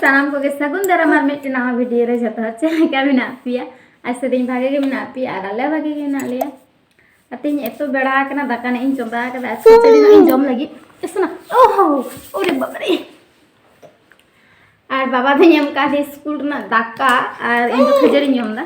ᱥᱟᱱᱟᱢ ᱠᱚᱜᱮ ᱥᱟᱹᱜᱩᱱ ᱫᱟᱨᱟᱢ ᱟᱨ ᱢᱤᱫᱴᱮᱱ ᱱᱟᱣᱟ ᱵᱷᱤᱰᱤᱭᱳ ᱨᱮ ᱡᱚᱛᱚ ᱦᱚᱲ ᱪᱮᱫ ᱞᱮᱠᱟ ᱢᱮᱱᱟᱜ ᱯᱮᱭᱟ ᱟᱥᱟᱫᱤᱧ ᱵᱷᱟᱜᱮ ᱜᱮ ᱢᱮᱱᱟᱜ ᱯᱮᱭᱟ ᱟᱨ ᱟᱞᱮ ᱵᱷᱟᱜᱮ ᱜᱮ ᱢᱮᱱᱟᱜ ᱞᱮᱭᱟ ᱟᱨ ᱛᱮᱦᱮᱧ ᱮᱛᱚ ᱵᱮᱲᱟ ᱟᱠᱟᱱᱟ ᱫᱟᱠᱟ ᱱᱟᱜ ᱤᱧ ᱪᱚᱸᱫᱟ ᱟᱠᱟᱫᱟ ᱟᱨ ᱠᱷᱤᱪᱲᱤ ᱱᱟᱜ ᱤᱧ ᱡᱚᱢ ᱞᱟᱹᱜᱤᱫ ᱤᱥᱱᱟ ᱳᱦᱳ ᱳᱨᱮ ᱵᱟᱵᱟᱨᱮ ᱟᱨ ᱵᱟᱵᱟ ᱫᱚᱧ ᱮᱢ ᱠᱟᱫᱮ ᱥᱠᱩᱞ ᱨᱮᱱᱟᱜ ᱫᱟᱠᱟ ᱟᱨ ᱤᱧ ᱫᱚ ᱠᱷᱟᱹᱡᱟᱹᱲᱤᱧ ᱡᱚᱢ ᱮᱫᱟ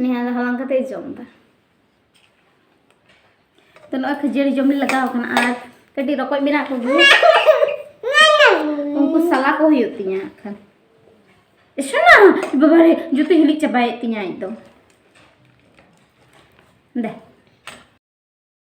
ᱱᱤᱭᱟᱹ ᱫᱚ ᱦᱟᱞᱟᱝ ᱠᱟᱛᱮ ᱡᱚᱢ ᱫᱟ ᱛᱚ ᱱᱚᱜᱼᱚᱭ ᱠᱷᱟᱹᱡᱟᱹᱲᱤ ᱡᱚᱢ ᱞᱮ ᱞᱟᱜᱟᱣ ᱠᱟᱱᱟ ᱟᱨ ᱠᱟᱹᱴᱤᱡ ᱨᱚᱠᱚᱡ ᱢᱮᱱᱟᱜ ᱠᱚᱜᱮ ᱩᱱᱠᱩ ᱥᱟᱞᱟ ᱠᱚ ᱦᱩᱭᱩᱜ ᱛᱤᱧᱟ ᱠᱷᱟᱱ ᱥᱚᱱᱟ ᱵᱟᱵᱟᱨᱮ ᱡᱚᱛᱚ ᱦᱤᱞᱤᱡ ᱪᱟᱵᱟᱭᱮᱫ ᱛᱤᱧᱟ ᱟᱡ ᱫᱚ ᱫᱮ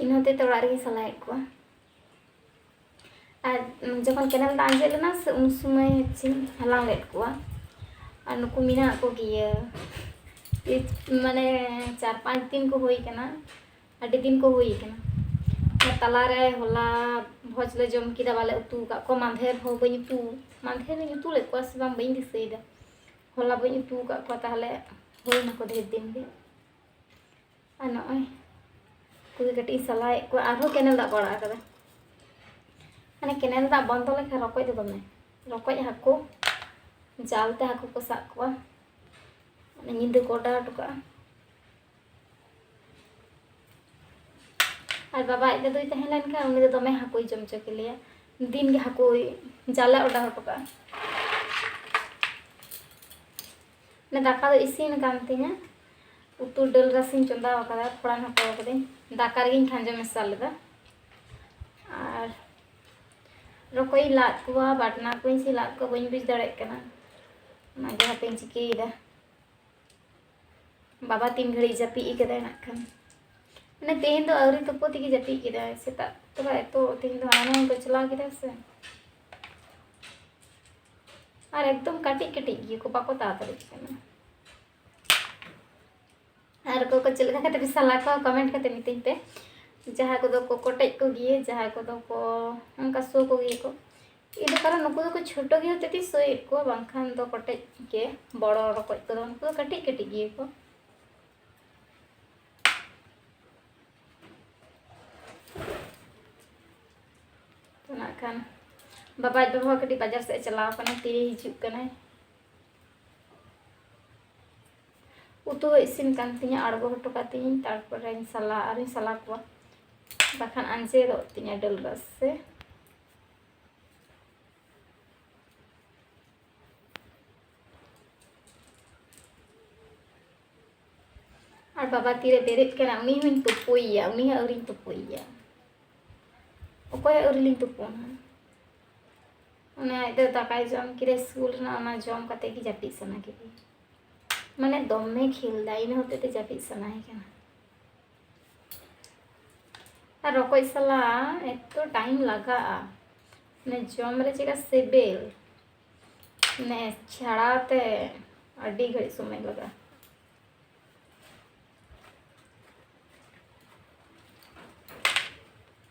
ᱤᱧ ᱦᱚᱸ ᱛᱮᱛᱮ ᱚᱲᱟᱜ ᱨᱮᱜᱮ ᱥᱟᱞᱟᱭᱮᱫ ᱠᱚᱣᱟ ᱟᱨ ᱡᱚᱠᱷᱚᱱ ᱠᱮᱱᱮᱞ ᱫᱟᱜ ᱟᱸᱡᱮᱫ ᱞᱮᱱᱟ ᱥᱮ ᱩᱱ ᱥᱚᱢᱚᱭ ᱦᱚᱪᱪᱷᱮᱧ ᱦᱟᱞᱟᱝ ᱞᱮᱫ ᱠᱚᱣᱟ ᱟᱨ ᱱᱩᱠᱩ ᱢᱮᱱᱟᱜ ᱠᱚᱜᱮᱭᱟ ᱢᱟᱱᱮ ᱪᱟᱨ ᱯᱟᱸᱪ ᱫᱤᱱ ᱠᱚ ᱦᱩᱭ ᱠᱟᱱᱟ ᱟᱹᱰᱤ ᱫᱤᱱ ᱠᱚ ᱦᱩᱭ ᱠᱟᱱᱟ ᱛᱟᱞᱟᱨᱮ ᱦᱚᱞᱟ ᱵᱷᱚᱡᱽ ᱞᱮ ᱡᱚᱢ ᱠᱮᱫᱟ ᱵᱟᱞᱮ ᱩᱛᱩ ᱟᱠᱟᱫ ᱠᱚᱣᱟ ᱢᱟᱫᱷᱮᱨ ᱦᱚᱸ ᱵᱟᱹᱧ ᱩᱛᱩ ᱢᱟᱫᱷᱮᱨ ᱤᱧ ᱩᱛᱩ ᱞᱮᱫ ᱠᱚᱣᱟ ᱥᱮ ᱵᱟᱝ ᱵᱟᱹᱧ ᱫᱤᱥᱟᱹᱭᱮᱫᱟ ᱦᱚᱞᱟ ᱵᱟᱹᱧ ᱩᱛᱩ ᱟᱠᱟᱫ ᱠᱚᱣᱟ ᱛᱟᱦᱚᱞᱮ ᱦᱩᱭ ᱱᱟᱠᱚ ᱰᱷᱮᱨ ᱫᱤᱱ ᱜᱮ ᱟᱨ ᱱᱚᱜᱼᱚᱭ ᱩᱱᱠᱩ ᱜᱮ ᱠᱟᱹᱴᱤᱡ ᱤᱧ ᱥᱟᱞᱟᱭᱮᱫ ᱠᱚᱣᱟ ᱟᱨᱦᱚᱸ ᱠᱮᱱᱮᱞ ᱫᱟᱜ ᱠᱚ ᱟᱲᱟᱜ ᱟᱠᱟᱫᱟ ᱢᱟᱱᱮ ᱠᱮᱱᱮᱞ ᱫᱟᱜ ᱵᱚᱱᱫᱚ ᱞᱮᱠᱷᱟᱱ ᱨᱚᱠᱚᱡ ᱫᱚ ᱫᱚᱢᱮ ᱨᱚᱠᱚᱡ ᱦᱟᱹᱠᱩ ᱡᱟᱞ ᱛᱮ ᱦᱟᱹᱠᱩ ᱠᱚ ᱥᱟᱵ ᱠᱚᱣᱟ ᱢᱟᱱᱮ ᱧᱤᱫᱟᱹ ᱠᱚ ᱚᱰᱟᱣ ᱦᱚᱴᱚ ᱠᱟᱜᱼᱟ ᱟᱨ ᱵᱟᱵᱟ ᱟᱡ ᱫᱟᱫᱩᱭ ᱛᱟᱦᱮᱸ ᱞᱮᱱᱠᱷᱟᱱ ᱩᱱᱤ ᱫᱚ ᱫᱚᱢᱮ ᱦᱟᱹᱠᱩᱭ ᱡᱚᱢ ᱦᱚᱪᱚ ᱠᱮᱞᱮᱭᱟ ᱫᱤᱱ ᱜᱮ ᱦᱟᱹᱠᱩᱭ ᱡᱟᱞᱮ ᱚᱰᱟᱣ ᱦᱚᱴᱚ ᱠᱟᱜᱼᱟ ᱫᱟᱠᱟ ᱫᱚ ᱤᱥᱤᱱ ᱟᱠᱟᱱ ᱛᱤᱧᱟ ᱩᱛᱩ ᱰᱟᱹᱞ ᱨᱟᱥᱮᱧ ᱪᱚᱸᱫᱟ ᱟᱠᱟᱫᱟ ᱯᱷᱚᱲᱟᱱ ᱦᱟᱛᱟᱣ ᱟᱠᱟᱫᱟᱹᱧ ᱫᱟᱠᱟ ᱨᱮᱜᱮᱧ ᱠᱷᱟᱸᱡᱚ ᱢᱮᱥᱟ ᱞᱮᱫᱟ ᱟᱨ ᱨᱚᱠᱚᱡ ᱤᱧ ᱞᱟᱫ ᱠᱚᱣᱟ ᱵᱟᱴᱱᱟ ᱠᱚᱧ ᱥᱮ ᱞᱟᱫ ᱠᱚᱣᱟ ᱵᱟᱹᱧ ᱵᱩᱡᱽ ᱫᱟᱲᱮᱭᱟᱜ ᱠᱟᱱᱟ ᱚᱱᱟᱜᱮ ᱦᱟᱯᱮᱧ ᱪᱤᱠᱟᱹᱭᱮᱫᱟ ᱵᱟᱵᱟ ᱛᱤᱱ ᱜᱷᱟᱹᱲᱤᱡ ᱡᱟᱹᱯᱤᱫ ᱟᱠᱟᱫᱟᱭ ᱱᱟᱜ ᱠᱷᱟᱱ ᱢᱟᱱᱮ ᱛᱮᱦᱮᱧ ᱫᱚ ᱟᱹᱣᱨᱤ ᱛᱩᱯᱩ ᱛᱮᱜᱮ ᱡᱟᱹᱯᱤᱫ ᱠᱮᱫᱟᱭ ᱥᱮᱛᱟᱜ ᱛᱚᱵᱮ ᱮᱛᱚ ᱛᱮᱦᱮᱧ ᱫᱚ ᱦᱟᱱᱟ ᱱᱚᱣᱟ ᱠᱚᱪᱞᱟᱣ ᱠᱮᱫᱟ ᱥᱮ ᱟᱨ ᱮᱠᱫᱚᱢ ᱠᱟᱹᱴᱤᱡ ᱠᱟᱹᱴᱤᱡ ᱜᱮ ᱠᱚ ᱵᱟᱠᱚ ᱛᱟᱲᱟᱛᱟᱲᱤᱜ ᱠᱟᱱᱟ ᱟᱨ ᱚᱠᱚᱭ ᱠᱚ ᱪᱮᱫ ᱞᱮᱠᱟ ᱠᱟᱛᱮ ᱯᱮ ᱥᱟᱞᱟ ᱠᱚᱣᱟ ᱠᱚᱢᱮᱱᱴ ᱠᱟᱛᱮ ᱢᱤᱛᱟᱹᱧ ᱯᱮ ᱡᱟᱦᱟᱸᱭ ᱠᱚᱫᱚ ᱠᱚ ᱠᱚᱴᱮᱡ ᱠᱚ ᱜᱮᱭᱟ ᱡᱟᱦᱟᱸᱭ ᱠᱚᱫᱚ ᱠᱚ ᱚᱱᱠᱟ ᱥᱳ ᱠᱚ ᱜᱮᱭᱟ ᱠᱚ ᱤᱧ ᱫᱚ ᱠᱟᱨᱚᱱ ᱱᱩᱠᱩ ᱫᱚᱠᱚ ᱪᱷᱳᱴᱳ ᱜᱮ ᱦᱚᱛᱮᱡ ᱛᱮᱧ ᱥᱳᱭᱮᱫ ᱠᱚᱣᱟ ᱵᱟᱝᱠᱷᱟᱱ ᱫᱚ ᱠᱚᱴᱮᱡ ᱜᱮ ᱵᱚᱲᱚ ᱨᱚᱠᱚᱡ ᱠᱚᱫᱚ ᱩᱱᱠᱩ ᱫᱚ ᱠᱟᱹᱴᱤᱡ ᱠᱟᱹᱴᱤᱡ ᱜᱮᱭᱟ ᱠᱚ ᱛᱚ ᱱᱟᱜ ᱠᱷᱟᱱ ᱵᱟᱵᱟᱡ ᱵᱟᱵᱟ ᱠᱟᱹᱴᱤᱡ ᱵᱟᱡᱟᱨ ᱥᱮᱫ ᱪᱟᱞᱟᱣ ᱠᱟᱱᱟ ᱛᱤᱨᱮ ᱦᱤᱡᱩᱜ ᱠᱟᱱᱟᱭ ᱩᱛᱩ ᱦᱚᱸ ᱤᱥᱤᱱ ᱠᱟᱱ ᱛᱤᱧᱟᱹ ᱟᱬᱜᱚ ᱦᱚᱴᱚ ᱠᱟᱜ ᱛᱤᱧ ᱛᱟᱨᱯᱚᱨᱮᱧ ᱥᱟᱞᱟ ᱟᱨᱤᱧ ᱥᱟᱞᱟ ᱠᱚᱣᱟ ᱵᱟᱠᱷᱟᱱ ᱟᱸᱡᱮᱫᱚᱜ ᱛᱤᱧᱟᱹ ᱰᱟᱹᱞ ᱨᱟᱥᱮ ᱟᱨ ᱵᱟᱵᱟ ᱛᱤᱨᱮ ᱵᱮᱨᱮᱫ ᱠᱟᱱᱟ ᱩᱱᱤ ᱦᱚᱸᱧ ᱛᱩᱯᱩᱭᱮᱭᱟ ᱩᱱᱤ ᱦᱚᱸ ᱟᱹᱣᱨᱤᱧ ᱛᱩᱯᱩᱭᱮᱭᱟ ᱚᱠᱚᱭ ᱟᱹᱣᱨᱤ ᱞᱤᱧ ᱛᱩᱯᱩᱱᱟ ᱚᱱᱟ ᱟᱡ ᱫᱚ ᱫᱟᱠᱟᱭ ᱡᱚᱢ ᱠᱮᱫᱟ ᱥᱠᱩᱞ ᱨᱮᱱᱟᱜ ᱚᱱᱟ ᱡᱚᱢ ᱠᱟᱛᱮ ᱜᱮ ᱡᱟᱹᱯᱤᱫ ᱥᱟᱱᱟ ᱠᱮᱫᱮᱭᱟ ᱢᱟᱱᱮ ᱫᱚᱢᱮ ᱠᱷᱮᱞ ᱫᱟ ᱤᱱᱟᱹ ᱦᱚᱛᱮᱡ ᱛᱮ ᱡᱟᱹᱯᱤᱫ ᱥᱟᱱᱟᱭᱮ ᱠᱟᱱᱟ ᱟᱨ ᱨᱚᱠᱚᱡ ᱥᱟᱞᱟ ᱮᱛᱚ ᱴᱟᱭᱤᱢ ᱞᱟᱜᱟᱜᱼᱟ ᱢᱟᱱᱮ ᱡᱚᱢ ᱨᱮ ᱪᱮᱫᱠᱟ ᱥᱤᱵᱤᱞ ᱢᱟᱱᱮ ᱪᱷᱟᱲᱟᱣ ᱛᱮ ᱟᱹᱰᱤ ᱜᱷᱟᱹᱲᱤᱡ ᱥᱚᱢᱚᱭ ᱞᱟᱜᱟᱜᱼᱟ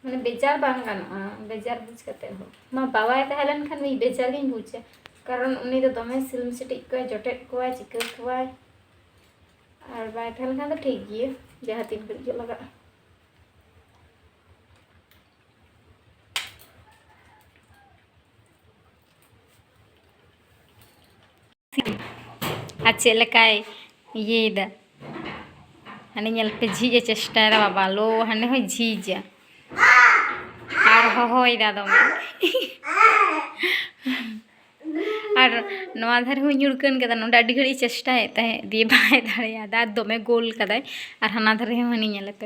ᱢᱟᱱᱮ ᱵᱮᱡᱟᱨ ᱵᱟᱝ ᱜᱟᱱᱚᱜᱼᱟ ᱵᱮᱡᱟᱨ ᱵᱩᱡᱽ ᱠᱟᱛᱮ ᱦᱚᱸ ᱢᱟ ᱵᱟᱵᱟᱭ ᱛᱟᱦᱮᱸ ᱞᱮᱱᱠᱷᱟᱱ ᱩᱱᱤ ᱵᱮᱡᱟᱨ ᱜᱤᱧ ᱵᱩᱡᱟ ᱠᱟᱨᱚᱱ ᱩᱱᱤ ᱫᱚ ᱫᱚᱢᱮ ᱥᱤᱞᱢ ᱥᱤᱴᱤᱡ ᱠᱚᱣᱟᱭ ᱡᱚᱴᱮᱫ ᱠᱚᱣᱟᱭ ᱪᱤᱠᱟᱹ ᱠᱚᱣᱟᱭ ᱟᱨ ᱵᱟᱭ ᱛᱟᱦᱮᱸ ᱞᱮᱱᱠᱷᱟᱱ ᱫᱚ ᱴᱷᱤᱠ ᱜᱮᱭᱟ ᱡᱟᱦᱟᱸ ᱛᱤᱱ ᱜᱷᱟᱹᱲᱤᱡ ᱜᱮ ᱞᱟᱜᱟᱜᱼᱟ ᱟᱨ ᱪᱮᱫ ᱞᱮᱠᱟᱭ ᱤᱭᱟᱹᱭᱮᱫᱟ ᱦᱟᱱᱮ ᱧᱮᱞ ᱯᱮ ᱡᱷᱤᱡ ᱮ ᱪᱮᱥᱴᱟᱭᱮᱫᱟ ᱵᱟᱵᱟ ᱞᱳ ᱦᱟᱱᱮ ᱦᱚᱸ ᱡᱷᱤᱡᱟ ᱟᱨ ᱦᱚᱦᱚᱭᱮᱫᱟ ᱫᱚᱢᱮ ᱟᱨ ᱱᱚᱣᱟ ᱫᱷᱟᱨᱮ ᱦᱚᱸ ᱧᱩᱲᱠᱟᱹᱱ ᱠᱟᱫᱟ ᱱᱚᱰᱮ ᱟᱹᱰᱤ ᱜᱷᱟᱹᱲᱤᱡ ᱪᱮᱥᱴᱟᱭᱮᱫ ᱛᱟᱦᱮᱸᱫ ᱫᱤᱭᱮ ᱵᱟᱭ ᱫᱟᱲᱮᱭᱟᱫᱟ ᱫᱚᱢᱮ ᱜᱳᱞ ᱠᱟᱫᱟᱭ ᱟᱨ ᱦᱟᱱᱟ ᱫᱷᱟᱨᱮ ᱦᱚᱸ ᱦᱟᱹᱱᱤ ᱧᱮᱞᱮᱯᱮ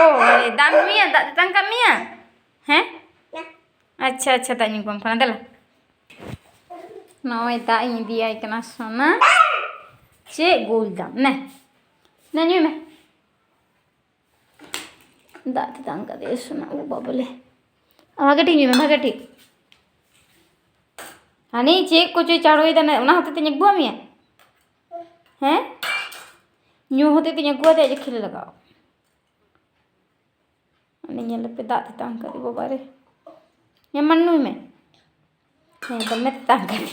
ᱳ ᱫᱟᱜ ᱮᱢ ᱧᱩᱭᱟ ᱫᱟᱜ ᱛᱮᱛᱟᱝ ᱠᱟᱜ ᱢᱮᱭᱟ ᱦᱮᱸ ᱟᱪᱪᱷᱟ ᱟᱪᱪᱷᱟ ᱫᱟᱜ ᱧᱩ ᱠᱚᱣᱟᱢ ᱠᱟᱱᱟ ᱫᱮᱞᱟ ᱱᱚᱜᱼᱚᱭ ᱫᱟᱜ ᱤᱧ ᱤᱫᱤᱭᱟᱭ ᱠᱟᱱᱟ ᱥᱚᱱᱟ ᱪᱮᱫ ᱜᱳᱞ ᱫᱟᱢ ᱱᱮ ᱱᱮ ᱧᱩᱭ ᱢᱮ ᱫᱟᱜ ᱛᱮᱛᱟᱝ ᱠᱟᱫᱮᱭᱟ ᱥᱚᱱᱟ ᱳ ᱵᱟᱵᱟᱞᱮ ᱵᱷᱟᱜᱮ ᱴᱷᱤᱠ ᱧᱩᱭ ᱢᱮ ᱵᱷᱟᱜᱮ ᱴᱷᱤᱠ ᱦᱟᱱᱤ ᱪᱮᱫ ᱠᱚᱪᱚᱭ ᱪᱟᱲᱚᱭᱮᱫᱟ ᱚᱱᱟ ᱦᱚᱛᱮᱡ ᱛᱮᱧ ᱟᱹᱜᱩᱣᱟᱜ ᱢᱮᱭᱟ ᱦᱮᱸ ᱧᱩ ᱦᱚᱛᱮᱡ ᱛᱮᱧ ᱟᱹᱜᱩ ᱟᱫᱮᱭᱟ ᱡᱮ ᱠᱷᱮᱞᱮ ᱞᱟᱜᱟᱣ ᱩᱱᱤ ᱧᱮᱞ ᱞᱮᱯᱮ ᱫᱟᱜ ᱛᱮᱛᱟᱝ ᱠᱟᱫᱮ ᱵᱟᱵᱟ ᱨᱮ ᱦᱮᱸ ᱢᱟ ᱧᱩᱭ ᱢᱮ ᱦᱮᱸ ᱫᱚᱢᱮ ᱛᱮᱛᱟᱝ ᱠᱟᱫᱮ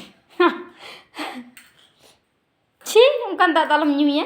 ᱪᱷᱤ ᱚᱱᱠᱟᱱ ᱫᱟᱜ ᱫᱚ ᱟᱞᱚᱢ ᱧᱩᱭᱟ